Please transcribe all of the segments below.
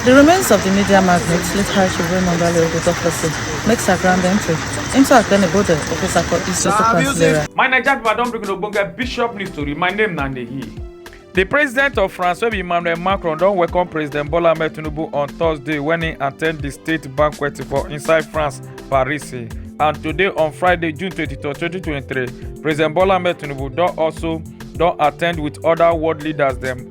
Di remains of di media magnate, late High Chief Raymond Dale Ogutoplesi, make sa grand entry into Akene Bode, Okosako East Sir, Local have you Council seen- area. My Naija people don bring una ogbonge bishop news tori. My name na Nehi. The president of France, wey be Emmanuel Macron, don welcome President Bola Ahmed Tinubu on Thursday when he attend the state banquet for inside France, Paris. And today on Friday, June 22, 2023, President Bola Ahmed Tinubu don also don attend with other world leaders dem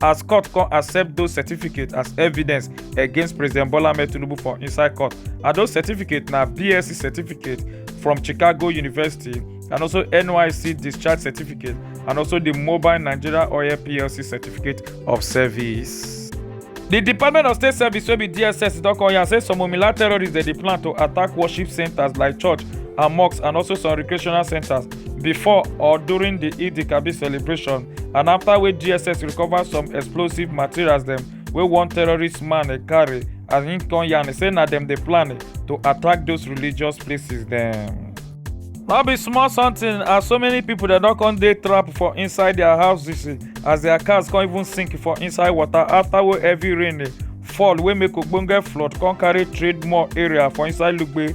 as court come accept those certificates as evidence against president bola ahmed tinubu for inside court and those certificates na bsc certificate from chicago university and also nysc discharge certificate and also the mobile nigeria oil plc certificate of service. di department of state service wey be dss don come yarn say some omila terrorists dey dey plan to attack worship centres like church and mosques and also some recreational centres. before or during di eid kabir celebration and afta wey dss recover some explosive materials dem wey one terrorist man e carry as im come yarn say na dem dey plan to attack those religious places dem. no be small something as so many pipo dem don come dey trapped for inside dia houses as dia cars come even sink for inside water afta wey heavy rain fall wey make ogbonge flood come carry trade mall area for inside lugbe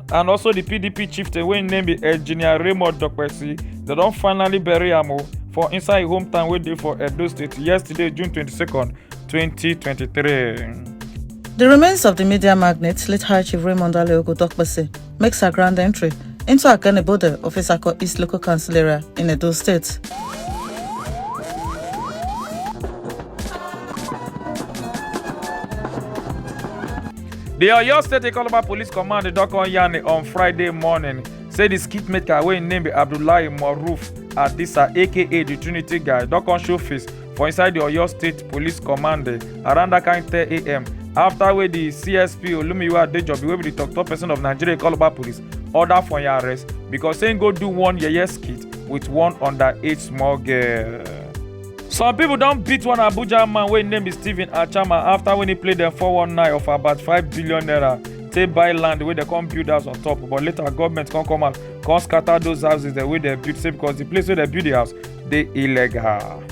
and also di pdp chieftain wey im name be engineer raymond dokpesi dem don finally bury am o for inside im hometown wey dey for edo state yesterday june 22nd 2023. The remains of the media magnate, late High Chief Raymond Aleogo Dokpese, makes her grand entry into Akanebode of Isako East Local Council area in Edo State. di oyo state ikoloba police command don come yarn on friday morning say di skit maker wey im name be abdullahi maruf adisa aka di trinity guy don come show face for inside di oyo state police command around dat kain 10am afta wey di csp olumiyiwa adejobi wey be di tok-tok pesin of nigeria ikoloba police order for im arrest becos say im go do one yeye skit wit one underage small girl. Some people don beat one Abuja man wey name be Stephen Achama after when he play dem 419 of about 5 billion naira take buy land wey dem come build house on top but later government come come out come scatter those houses dem wey dem build say because the place wey dem build the house dey illegal.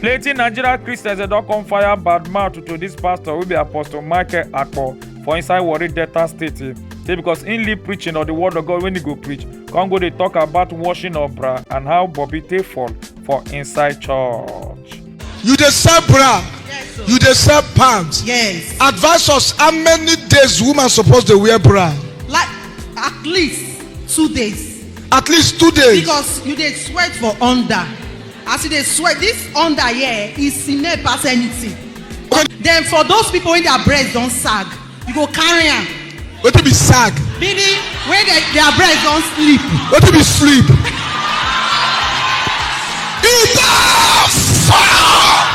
Plenty Nigerian Christians dem don come fire bad mouth to this pastor wey be Apostle Michael Akpo for inside Warri Delta State eh, say because im leave preaching of the word of God when he go preach come go dey talk about washing of bra and how Bobby take fall for inside church. You dey sell bra, Yes, sir. you dey sell pants. Yes. Advise us how many days woman suppose dey wear bra? Like at least two days. At least two days. Because you dey sweat for under. As you dey sweat, this under here is sine pass anything. Then for those people wey their breast don sag, you go carry am wetin be sag meaning when the, their breast don sleep wetin be sleep e don fall.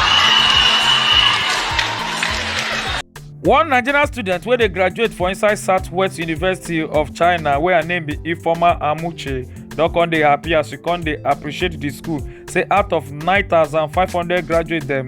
one nigerian student wey dey graduate for inside southwest university of china wey her name be ifeoma amuche don come dey happy as she come dey appreciate di school say out of 9500 graduate dem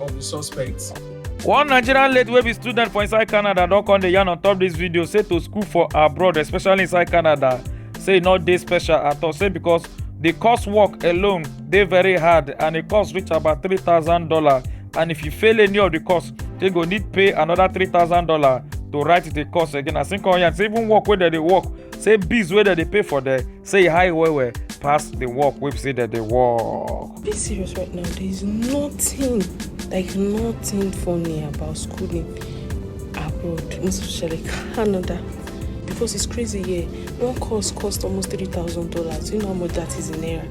of the suspects. one nigerian lady wey be student for inside canada don come dey yarn on top dis video say to school for abroad especially inside canada say e no dey special at all say because di course work alone dey very hard and e cost reach about three thousand dollars and if you fail any of di course you go need pay another three thousand dollars to write di course again as im come yarn say even work wey dem dey work say bills wey dem dey pay for there say e high well well pass the work wey be say dem dey work. be serious right now there is nothing like nothing funny about schooling abroad most especially canada because it's crazy here one course cost almost three thousand dollars you know how much that is in naira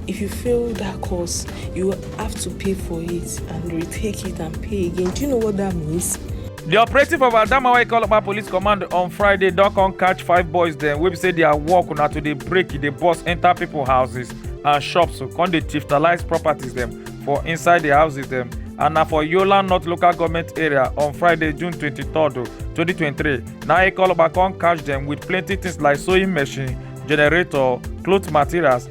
if you fail that course you have to pay for it and retake it and pay again do you know what that means di operative of adamawa ikoloba police command on friday don come catch five boys dem wey be say dia work na to dey break dey burst enta pipo houses and shops come dey thiftalize properties dem for inside di houses dem and na for yola north local goment area on friday june 23 2023 na ikoloba come catch dem wit plenty tins like sewing machine generator cloth materials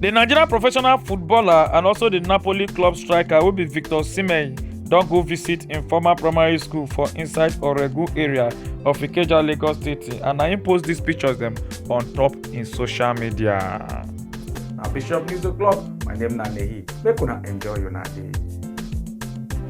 di nigeria professional footballer and also di napoli club striker wey be victor osimhen don go visit im former primary school for inside oregu area of ikeja lagos state and na im post dis pictures dem on top im social media. na bishop news o'clock my name na nehi make una enjoy una day.